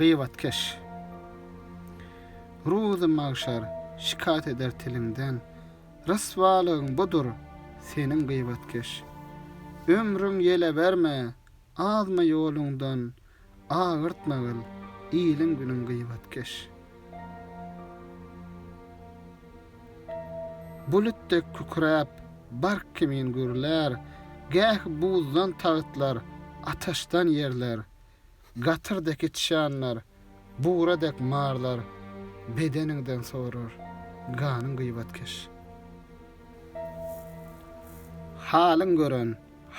Gyýbatkeş. Ruzy magşar şikaýat eder tiliňden, Ryswalygyň budur, seniň gyýbatkeş. Ömrüň ýele berme, azma ýoluňdan, Agyrtma gyl, iliň-günüň gyýbatkeş. Bulut dek kükräp, bark kimin gürlär, Gäh buzdan tagtlar, ataşdan ýerler, Gatyr dek içýanlar, bugra dek marlar, Bedeniňden sorar, ganyň gyýbatkeş. Halyň gören,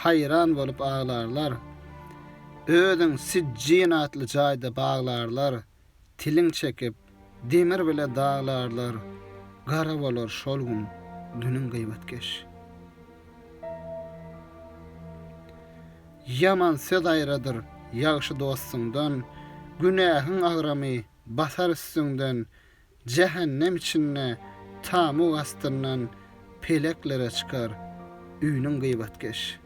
haýran bolup aglarlar, Özüň Sijjin atly jaýda baglarlar, Tilin çekip, demir bile daglarlar, Gara bolar şol gün dünüň gybetkeş. Ýaman söz aýradyr ýagşy dostuňdan, Günähiň agramy basar üstüňden, Jähennem içinde tamug astyndan peleklere çykar üniň gybatkeş.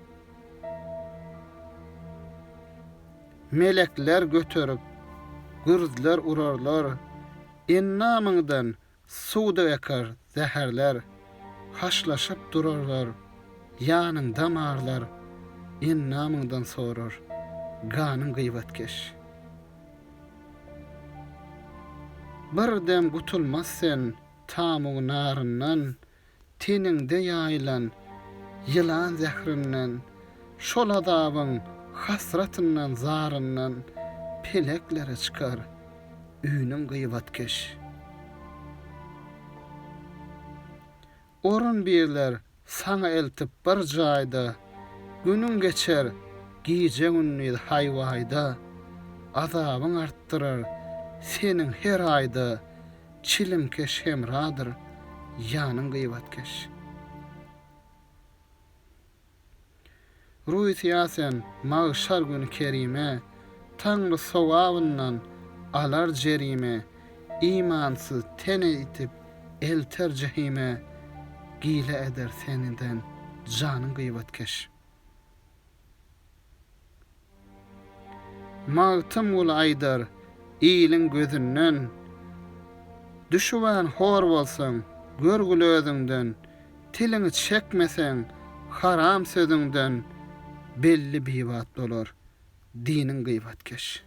Melekler göterip, gürzler urarlar, endamyňdan suwduk ekar zäherler, haşlaşyp durarlar, ýanyň damarlar endamyňdan sorar ganyň gybatkeş. Bir dem gutulmaz sen tamug naryndan, Teniňde ýaýylan ýylan zährinden, Şol azabyň hasratyndan, zaryndan Peleklere çykar üniň gybatkeş. Orun birler saňa eltip bir jaýda, Günüň geçer gije-gündiz haý-waýda. Azabyň artdyrar seniň her aýda, Çilimkeş hemradyr ýanyň gyýbatkeş. Rusiýa sen magşar güni kerime, Taňry sogabyndan alar jerime, Imansyz tene itip elter jehime, Gile eder seniden janyň gyýbatkeş. Magtymguly aýdar, Iliň gözünden Düşübem hor bolsaň, görgül özüňden, Tiliňi çekmeseň, haram sözüňden, Belli bibat bolar, diniň gybatkeş.